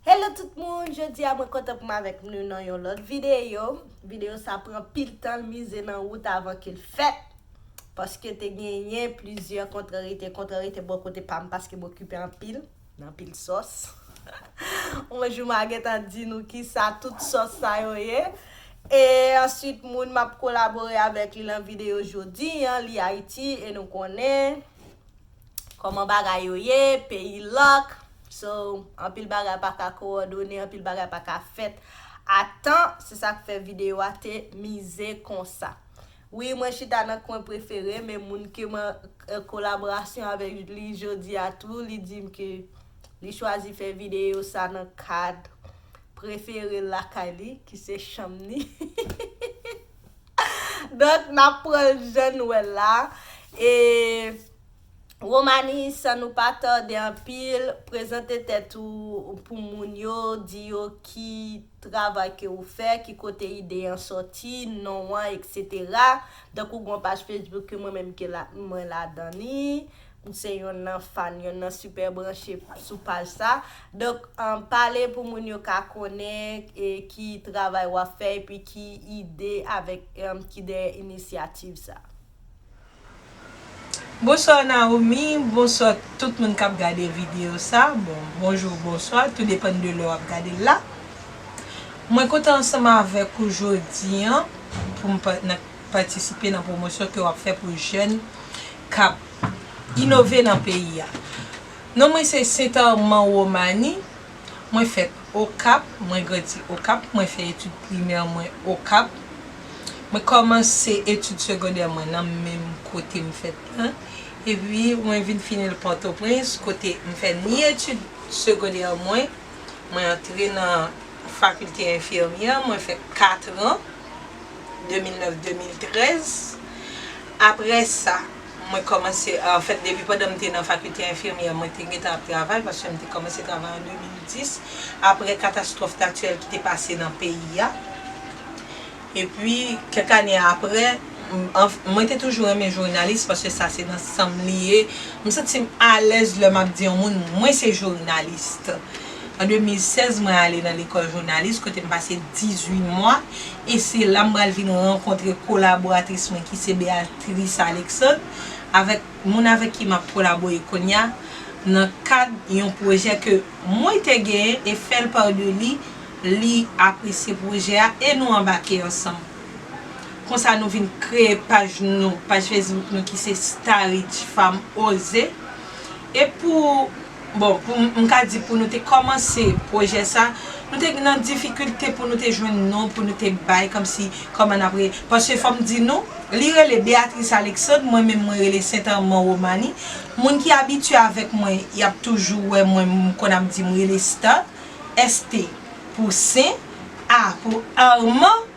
Hello tout moun, jodi a mwen kontan pou m avèk nou nan yon lòt videyo Videyo sa pran pil tan l mize nan wout avan ke l fèt Paske te genyen plizyè kontrarite, kontrarite bò kote pa m paske m okipe anpil nan pil sòs On jou ma gentan di nou kisa tout sòs sa yo ye E answit moun m ap kolabore avèk li lan videyo jodi an li Ayiti e nou konnen Koman bagay yo ye, peyi lock, so anpil bagay pa ka kowòdone, anpil bagay pa ka fèt a tan, se sa k fè videyo a te mize konsa. Wi mwen chita nan kwen prefere m e moun ke mwen an kolaborasyon avèk li jodi a tou li di m ke li chwazi fè videyo sa nan kad prefere l lakay li ki se chanm ni. Donk n ap pran l jan n wè l la e. Romani san nou pa tòde anpil prezante tèt ou pou moun yo di yo ki travay ke ou fè ki kote ide an sòti non an etc donk ou gon paj Facebook ke mwen menm ke la mwen ladan li m se yonn nan fan yonn nan sipè branche sou paj sa donk pale pou moun yo ka konnen ki travay wap fè epi ki ide avèk ki dèyè inisyativ sa. Bonsoir Naomi bonsoir tout moun kap gade video sa bon bonjour bonsoir tou depan de lè wap gadel la mwen kontan ansanm avèk ou jodi an poum patisipe nan pwomosyon ke wap fè pou jèn kap inove nan peyi a non mwen se St Armand Romani Mwen fèt Okap, mwen grandi Okap, mwen fè etid primè mwen Okap, mwen kòmanse etid segondè mwen nan menm kote m fèt lan, epi mwen vin fini l Pòtoprens kote m fè ni etid segondè mwen, mwen antre nan fakilte enfimyè, mwen fè katran, 2009-2013, aprè sa. Mwen kòmanse, anfèt depi pandan m te nan fakilte enfimyè mwen te gentan ap travay paske m te kòmanse travay an 2010 aprè katastwòf natirèl ki te pase nan peyi a. Epi kèk ane aprè, mwen te toujou renmen jounalis paske sa se nan san m li ye. M santi m alèz lè m ap di yon moun mwen se jounalis. An 2016 mwen ale nan lekòl jounalis kote m pase 18 mwa e se la m pral vin rankontre kolaboratris mwen ki se Beatrice. Theresa Alexandre, avèk moun avèk ki m ap kolabore kounye a nan kad yon pwojè ke mwen te genyen e fèl par de li, li apresye pwojè a e nou anbake ansanm. Konsa nou vin kreye paj nou, paj Facebook nou ki se Starij Fanm Oze e pou. Bon, pou m ka di pou nou te kòmanse pwojè sa, nou te nan difikilte pou nou te jwenn non pou nou te bay kòmsi kòman n ap rele. Paske fò m di nou, li rele Béatrice Alexandre, mwen menm mwen rele Saint Armand Romani. Moun ki abitye avèk mwen, y ap toujou wè mwen m konn ap di m rele Start, ST pou Sen, A pou Armand.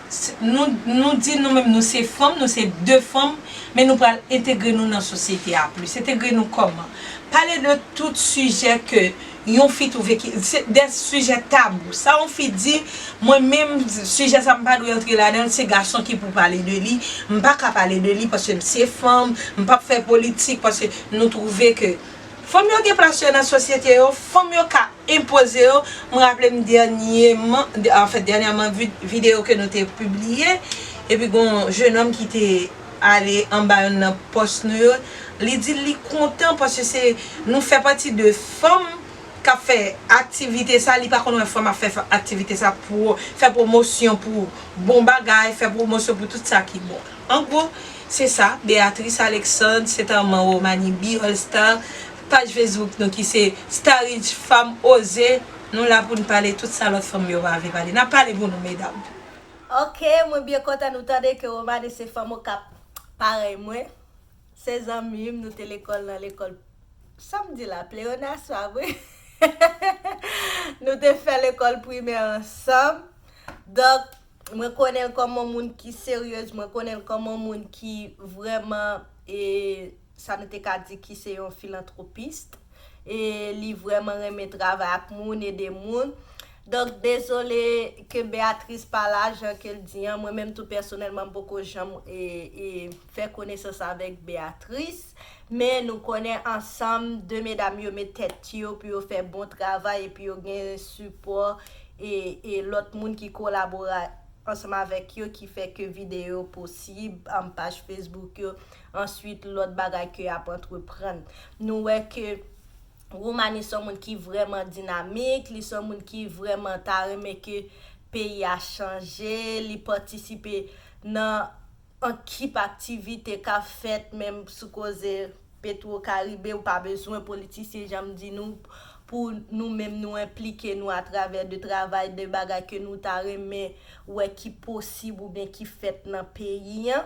Nou nou di nou menm nou se fanm, nou se de fanm, men nou pral entegre nou nan sosyete a plis. Entegre nou kòman? Pale de tout sijè ke yon fi twouve ki, se de sijè tabou. Sa yon fi di, mwen menm sijè sa m pa dwe antre ladan l, se gason ki pou pale de li, m pa ka pale de li paske m se fanm, m p ap fè politik paske nou twouve ke fanm yo gen plas yo nan sosyete yo, fanm yo ka. enpoze yo, m raple m dènyeman, anfen dènyèman videyo ke nou te pibliye, epi gon yon jenòm ki te ale anba youn nan pòs nou yo, li di li kontan paske se nou fè pati de fanm k ap fè aktivite sa, li pa konn wè fanm ap fè aktivite sa pou fè pwomosyon pou bon bagay, fè pwomosyon pou tout sa ki bon. An gwo, se sa, Béatrice Alexandre, se ta manbo Manibi All Star. Paj Facebook nou ki se Starij Fanm Oze, nou la pou n pale tout sa lòt fanm yo pa vle pale. N ap pale pou nou medam. Ok mwen byen kontan nou tande ke Romane se fanm okap parèy mwen. Se zanmi m nou te lekòl nan lekòl sa m di la pleyonas pa vre nou te fè lekòl primè ansanm donk mwen konnen l kòm on moun ki seryez mwen konnen l kòm on moun ki vrèman e sa nou te ka di ki se yon filantwopist e li vrèman renmen travay ak moun, ede moun. Donk dezole ke Beatrice pa la, jan ke l di an, mwen menm tou pèsonèlman m poko janm fè konesans avèk Beatrice, men nou konnen ansanm 2 medam yo met tèt yo pou yo fè bon travay epi yo gen sipò e lòt moun ki kolabore ansanm avèk yo ki fè ke videyo posib, paj Facebook yo Answit lòt bagay ke ap antreprann. Nou wè ke Roumani son moun ki vrèman dinamik, li son moun ki vrèman ta renmen ke peyi a chanje, li patisipe nan ankip aktivite kap fèt menm sou koze Petwo Karibe, ou pa bezwen politisyen janm di nou pou nou menm nou enplike nou atravè de travay de bagay ke nou ta renmen wè ki posib oubyen ki fèt nan peyi an.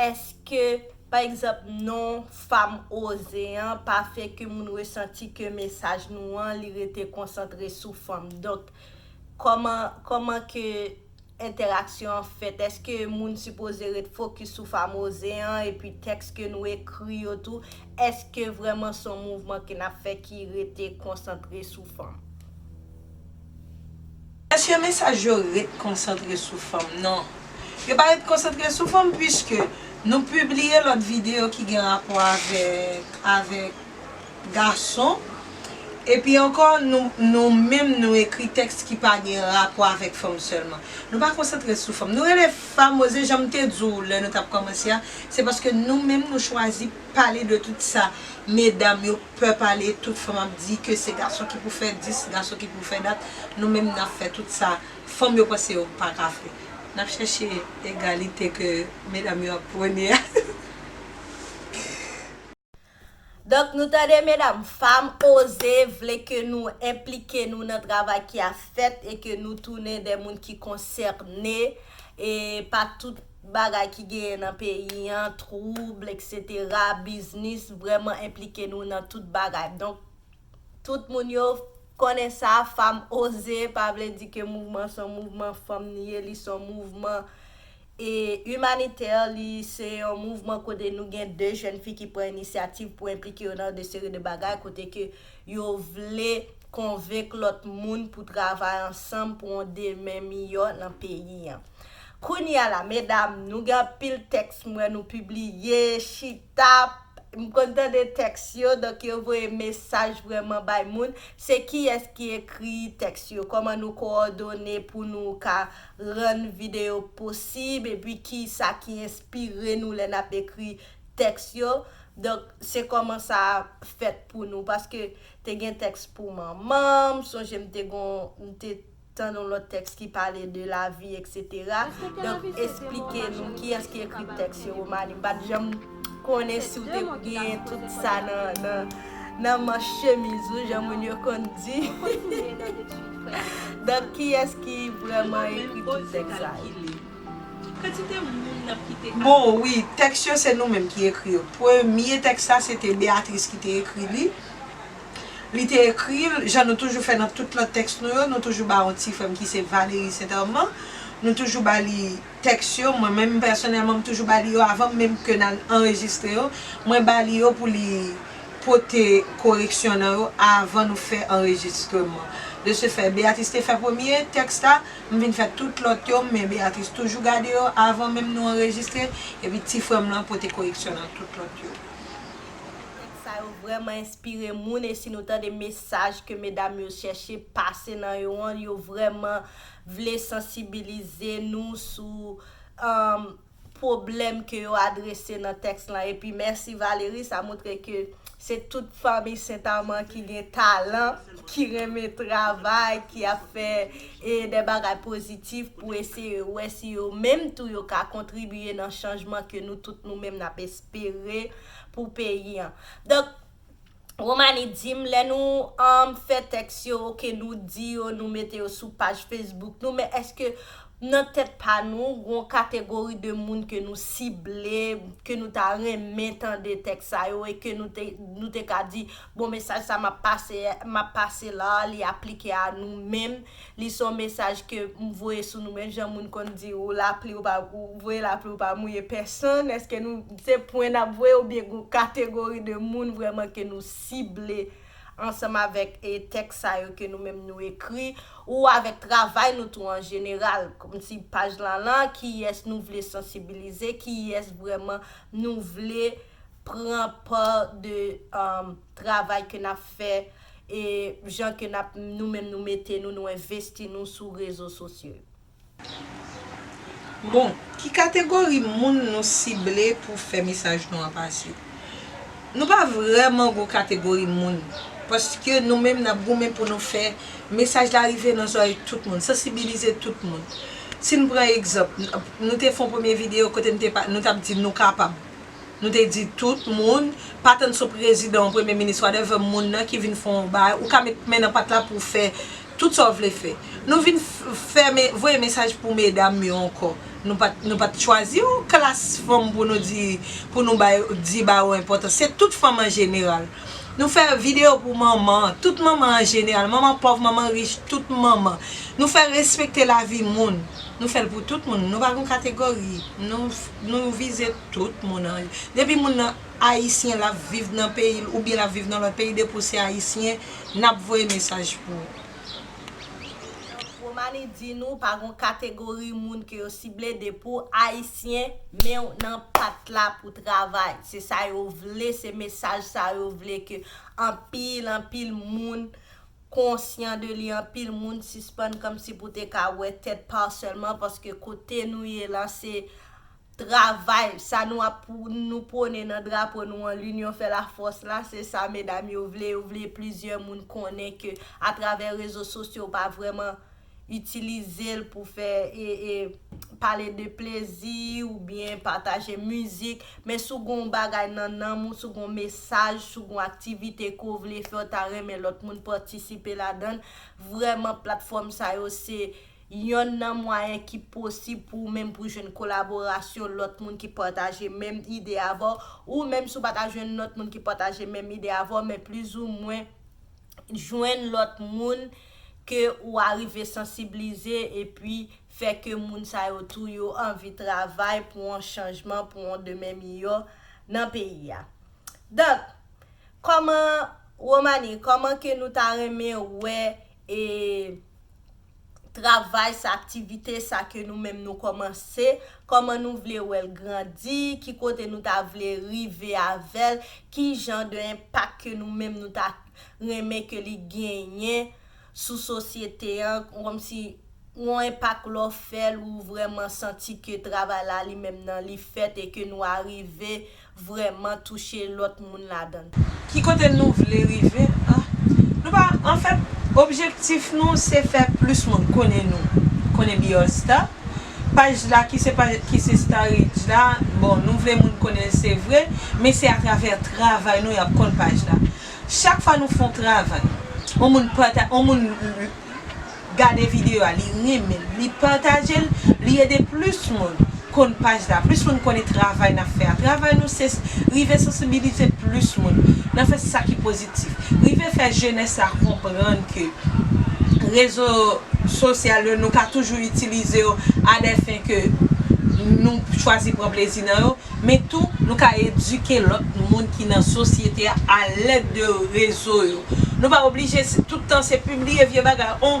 Eske, pa egzanp, non Fam Oze an pa fè ke moun resanti ke mesaj nou an li rete konsantre sou fanm? Donk, kòman, kòman ke entèraksyon an fèt? Eske moun sipoze ret fokis sou Fam Oze an epi tèks ke nou ekri yo tou, eske vrèman son mouvman ke n ap fè ki rete konsantre sou fanm? Eske mesaj yo ret konsantre sou fanm? Non. Yo pa ret konsantre sou fanm puiske nou pibliye lòt videyo ki gen rapò avèk avèk gason. Epi ankò nou nou menm nou ekri tèks ki pa gen rapò avèk fanm sèlman. Nou pa konsantre sou fanm. Nou rele famoze jan m te di w lè nou t ap kòmanse a, se paske nou menm nou chwazi. pale de tout sa medam yo pè pale tout fanm ap di ke se gason ki pou fè dis gason ki pou fè dat nou menm nap fè tout sa fanm yo panse yo paka fè nap chèche egalite ke medam yo ap pwone a. Donk nou tande medam fanm oze vle ke nou enplike nou nan travay ki ap fèt e ke nou tounen de moun ki konsène e pa tout. Bagay ki genyen nan peyi an, twoub, eksetera, biznis, vrèman enplike nou nan tout bagay. Donk, tout moun yo konnen sa, Fanm Oze pa vle di ke mouvman se yon mouvman fanm li ye, li se yon mouvman imanitè, li se yon mouvman kote nou gen de jèn fi ki pran inisyativ pou enplike yo nan de seri de bagay, kote ke yo vle konvenk lòt moun pou travay ansanm pou yon demen miyò nan peyi an. Kounya la medam nou gen anpil tèks m wè nou pibliye chita m konn tande tèks yo donk yo voye mesaj vrèman bay moun se kiyès ki ekri tèks yo kòman nou kowòdone pou nou ka rann videyo posib epi kisa ki enspire nou lè nap ekri tèks yo donk se kòman sa fèt pou nou paske te gen tèks pou manman m sonje m te gon m te Tann yon lòt tèks ki pale de lavi eksetera. Donk esplike nou kiyès ki ekri tèks yo Romani. M pa t janm konnen si w te gen tout sa nan manch chemiz ou jan moun yo konn di. Donk kiyès ki vrèman ekri tout tèks sa yo? Bon wi, tèks yo se nou menm ki ekri yo. Premye tèks la se te Beatrice ki te ekri li. Li te ekri, jan nou toujou fè nan tout lòt tèks nou yo, nou toujou ba yon ti frè m ki se Valéry Saint Armand, nou toujou ba li tèks yo, mwen menm pèsonèlman m toujou ba li yo avan menm ke n al anrejistre yo, mwen ba li yo pou li pote koreksyon nan yo avan nou fè anrejistreman. De se fè, Béatrice te fè premye tèks la, m vin fè tout lòt yo, men Béatrice toujou gade yo avan menm nou anrejistre, epi ti frè m lan pote koreksyon nan tout lòt yo. Sa yo vrèman enspire moun e si nou tande mesaj ke medam yo chèche pase nan yo an yo vrèman vle sansibilize nou sou pwoblèm ke yo adrese nan tèks lan epi mèsi Valery sa moutre ke se tout fanmi St. Armand ki gen talan ki renmen travay ki ap fè de bagay pozitif pou eseye wè si yo menm tou yo ka kontribye nan chanjman ke nou tout nou menm nap espere pou peyi an. Donk, Romani di m, lè nou fè tèks yo, ke nou di yo, nou mete yo sou paj Facebook nou, men èske nan tèt pa nou, gon kategori de moun ke nou sible, ke nou ta renmen tande tèks sa yo, e ke nou te ka di, bon, mesaj sa m ap pase la, li aplike a nou menm, Li son mesaj ke m voye sou nou menm jan moun konn di ou lapli ou pa ou voye lapli ou pa mouye pèsonn eske nou se pwen nap voye oubyen gon kategori de moun vrèman ke nou sible ansanm avèk e tèks sa yo ke nou menm nou ekri ou avèk travay nou tou an jeneral kòmsi paj lan lan kiyès nou vle sansibilize kiyès vrèman nou vle pran pa de travay ke nap fè. E jan ke nap nou menm nou mete nou nou envesti nou sou rezo sosyo yo. Bon, ki kategori moun nou sible pou fè mesaj nou an pase? Nou pa vrèman gon kategori moun, paske nou menm nap goumen pou nou fè mesaj la rive nan zòrèy tout moun, sansibilize tout moun. Si n pran egzanp, nou te fon premye videyo kote nou tap di nou kapab. Nou te di tout moun, pa tann sou prezidan ou premye minis wadèvè moun nan ki vin fè yon bagay, ou ka met men nan pat la pou w fè tout sa w vle fè. Nou vin fè voye mesaj pou medam yo ankò. Nou pa nou pa t chwazi yon klas fanm pou nou di pou nou bay di ba yo enpòtans. Se tout fanm an jeneral. Nou fè videyo pou manman, tout manman an jeneral. Manman pòv, manman rich, tout manman. Nou fè respekte lavi moun. Nou fè l pou tout moun. Nou pa gen yon kategori. Nou. Nou vize tout moun an. Depi moun nan ayisyen lap viv nan peyil oubyen lap viv nan lòt peyi depi ou se ayisyen nap voye mesaj pou ou. Donk Romani di nou pa gon kategori moun ke yo sible depi w ayisyen men w nan pat la pou travay se sa yo vle se mesaj sa yo vle ke anpil anpil moun konsyan de li anpil moun sispann kòmsi pou te ka wè tèt pa w sèlman paske kote nou ye la se travay sa nou ap nou pwone nan drapo nou an linyon fè la fòs la se sa medam yo vle yo vle plizyè moun konnen ke atravè rezo sosyo pa vrèman itilize l pou fè e pale de plezi ou byen pataje mizik men si w gen yon bagay nan nanm ou si w gen yon mesaj si w gen yon aktivite ke w vle fè w ta renmen lòt moun patisipe ladan l vrèman platfòm sa yo se yonn nan mwayen ki posib pou ou menm pou jwenn kolaborasyon lòt moun ki pataje menm ide avè w ou menm si w pa ta jwenn lòt moun ki pataje menm ide avè w men plizoumwen jwenn lòt moun. ke ou arive sansiblize epi fè ke moun sa yo tou yo anvi travay pou on chanjman, pou on demen miyò nan peyi a. Donk, kòman, Romany, kòman ke nou ta renmen wè e travay sa, aktivite sa ke nou menm nou kòmanse, kòman nou vle wè l grandi, ki kote nou ta vle rive avè l, ki jan de enpak ke nou menm nou ta. renmen ke li genyen sou sosyete an kòmsi yon enpak lè w fè l ou vrèman santi ke travay la li menm nan li fèt e ke nou arive vrèman touche lòt moun ladan l. Ki kote nou vle rive a? Nou pa, anfèt, objektif nou se fè plis moun konnen nou, konnen Be All Star. Paj la ki se paj ki se Starrydge la, bon nou vle moun konnen l se vre, men se atravè travay nou y ap konn paj la. Chak fwa nou fè yon travay, yon moun pata, yon moun gade videyo a, li renmen l, li pataje l, li ede plis moun konn paj la, plis moun konnen travay n ap fè a. Travay nou se rive sansibilize plis moun nan fè sa ki pozitif. Rive fè jenès la konprann ke rezo sosyal yo nou ka toujou itilize yo a dè fen ke nou chwazi pran plezi nan yo, men tou nou ka edike lòt moun ki nan sosyete a alèd de rezo yo. Nou pa oblije tout tan se pibliye vye bagay, on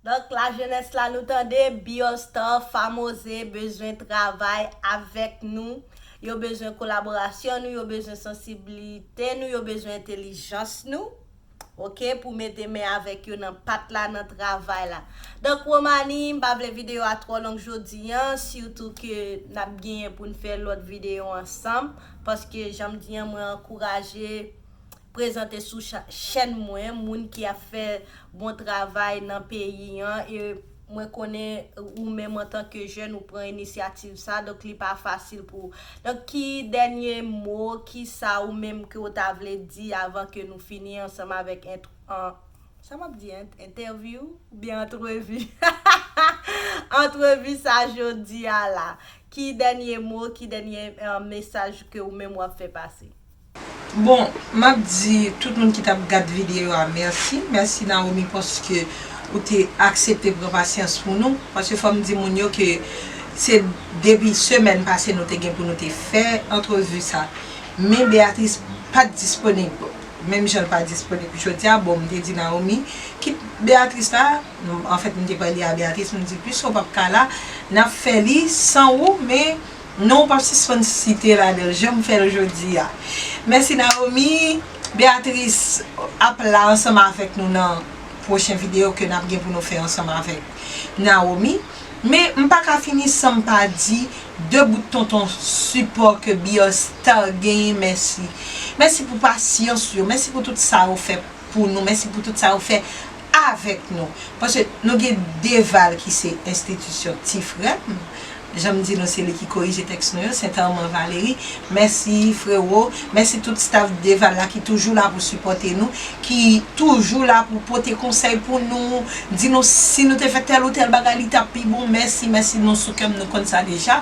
Donk la jenès la nou tande Biol Star Famoze bezwen travay avèk nou, yo bezwen kolaborasyon nou, yo bezwen sansiblite nou, yo bezwen entelijans nou ok pou mete men avèk yo nan pat la nan travay la. Donk Romani m pa vle videyo a twò long jodi an sitou ke n ap genyen pou n fè lòt videyo ansanm paske jan m di an mwen ankouraje prezante sou chèn mwen moun ki ap fè bon travay nan peyi an e mwen konnen ou menm antan ke jèn ou pran inisyativ sa donk li pa fasil pou donk ki dènye mo ki sa ou menm ke ou ta vle di avan ke nou fini ansanm avèk ent sa map di ent entèvyou ou byen antrevi hahahaa antrevi sa jodi a la ki dènye mo ki dènye mesaj ke ou menm wap fè pase. Bon map di tout moun ki tap gad video a merci, merci Naomi paske ou te aksepte pran pasyans pou nou, paske fòm di moun yo ke se depi semèn pase nou te gen pou nou te fè antrevu sa men Beatrice pat disponib menm jan l pa disponib jodia bon m te di Naomi kit Beatrice la anfèt m te pale a Beatrice m di pwiske w pap ka la nap fè li san ou men Non ou pap sispann site ladanl janm fèl jodia mèsi Naomie Beatrice ap la ansanm avèk nou nan pwochen video ke nap gen pou nou fè ansanm avèk Naomie men m paka fini sanm pa di 2 bout tonton sipò ke Bios Star genyen mèsi mèsi pou pasyans yo mèsi pou tout sa yo fè pou nou mèsi pou tout sa yo fè avèk nou paske nou gen 2 val ki se enstitisyon ti frèm Janm di nou se li ki korije tèks nou yo, Sentèman Valery. Mèsi frero, mèsi tout staff Dval la ki toujou la pou sipòte nou, ki toujou la pou pote konsèy pou nou, di nou si nou te fè tèl ou tèl bagay li tap pi bon, mèsi, mèsi nou sou kèm nou konn sa deja.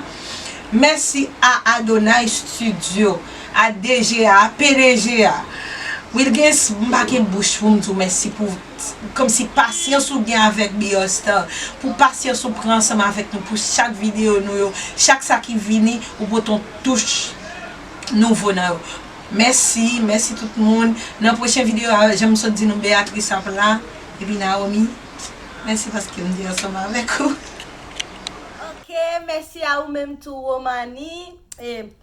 Mèsi a Adonay Studio, a DG a, a pdg a, Wilguens m pa gen bouch poum diw mèsi pou. Komsi pasyans ou gen avèk Beyond Star pou pasyans ou pran ansanm avèk nou pou chak videyo nou yo chak sa ki vini ou pote yon touch nouvo nan yo mèsi mèsi tout moun nan pwochen videyo a janm sot di nou Beatrice ap la epi Naomi mèsi paske m te ansanm avèk ou. Ok mèsi a ou menm tou Romanie.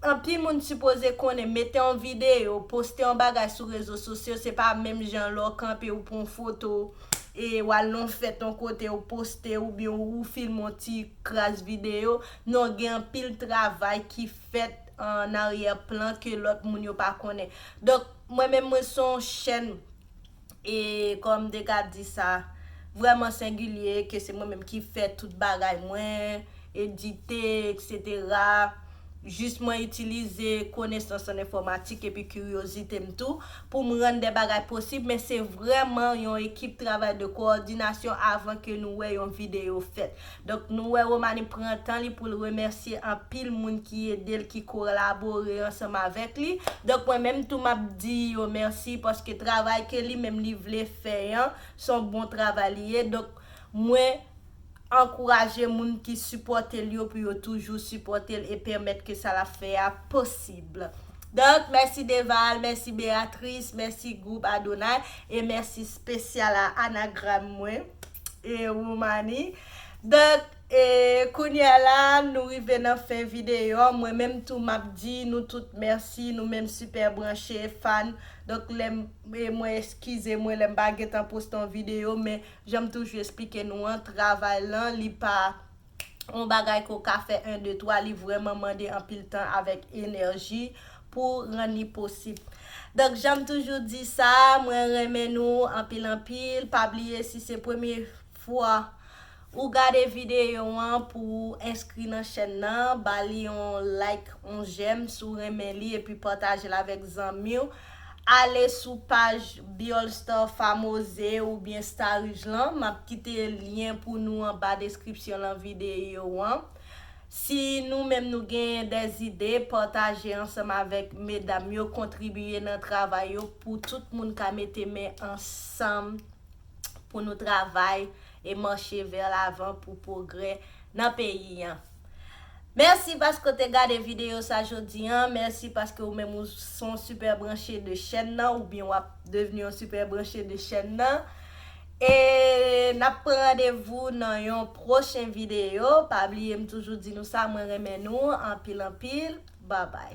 Anpil moun sipoze konnen mete yon videyo, poste yon bagay sou rezo sosyo se pa menm jan lè w kanpe ou pran yon foto e w al nan yon fèt yon kote ou poste oubyen ou filme yon ti kras videyo, non gen anpil travay ki fèt an aryè plan ke lòt moun yo pa konnen. Donk mwen menm mwen se yon chèn E kòm Degas di sa vrèman sengilye ke se mwen menm ki fè tout bagay mwen, edite, eksetera, jis mwen itilize konesans an enfòmatik epi kiryozite m tou pou m rann de bagay posib men se vrèman yon ekip travay de kowòdinasyon avan ke nou wè yon videyo fèt. Donk nou wè Romany pran tan li pou l remèsye anpil moun ki ede l, ki kolabore ansanm avèk li. Donk mwen menm tou m ap di yo mèsi paske travay ke li menm li vle fè an, s on bon travay li ye. Donk mwen ankouraje moun ki sipòte l yo pou yo toujou sipòte l e pèmèt ke sa l ap fè a posib. Donk mèsi Deval, mèsi Beatrice, mèsi gwoup Adonay e mèsi spesyal a Anagram mwen. e Roumani Donk e kounye a la nou rive nan fen videyo an Mwen menm tou m ap di nou tout mèsi nou menm sipè branche fan Donk lè m e mwen eskize mwen lè m pa gentan poste yon videyo Men jan m toujou esplike nou an travay lan li pa yon bagay ke w ka fè 1 2 3 li vrèman mande anpil tan avèk enèji pou rann li posib donk janm toujou di sa mwen renmen nou anpil anpil pa bliye si se premye fwa ou gade videyo an pou ou enskri nan chèn nan ba li yon like yon jèm si w renmen li epi pataje l avèk zanmi w. Ale sou paj Biol Star Famoze oubyen Starige lan, map kite lyen pou nou anba deskripsyon lan videyo an. Si nou menm nou genyen de zide, pataje ansanm avèk medam yo, kontribiye nan travay yo pou tout moun ka mete men ansanm pou nou travay e mache vè lavan pou pwogrè nan peyi an. Merci paske w te gade video sa jodi an, merci paske ou menm ou son super branche de chèn nan oubyen wap devni yon super branche de chèn nan e nap pran randevou nan yon pwochen video pa bliye m toujou di nou sa mwen renmen nou anpil anpil babay.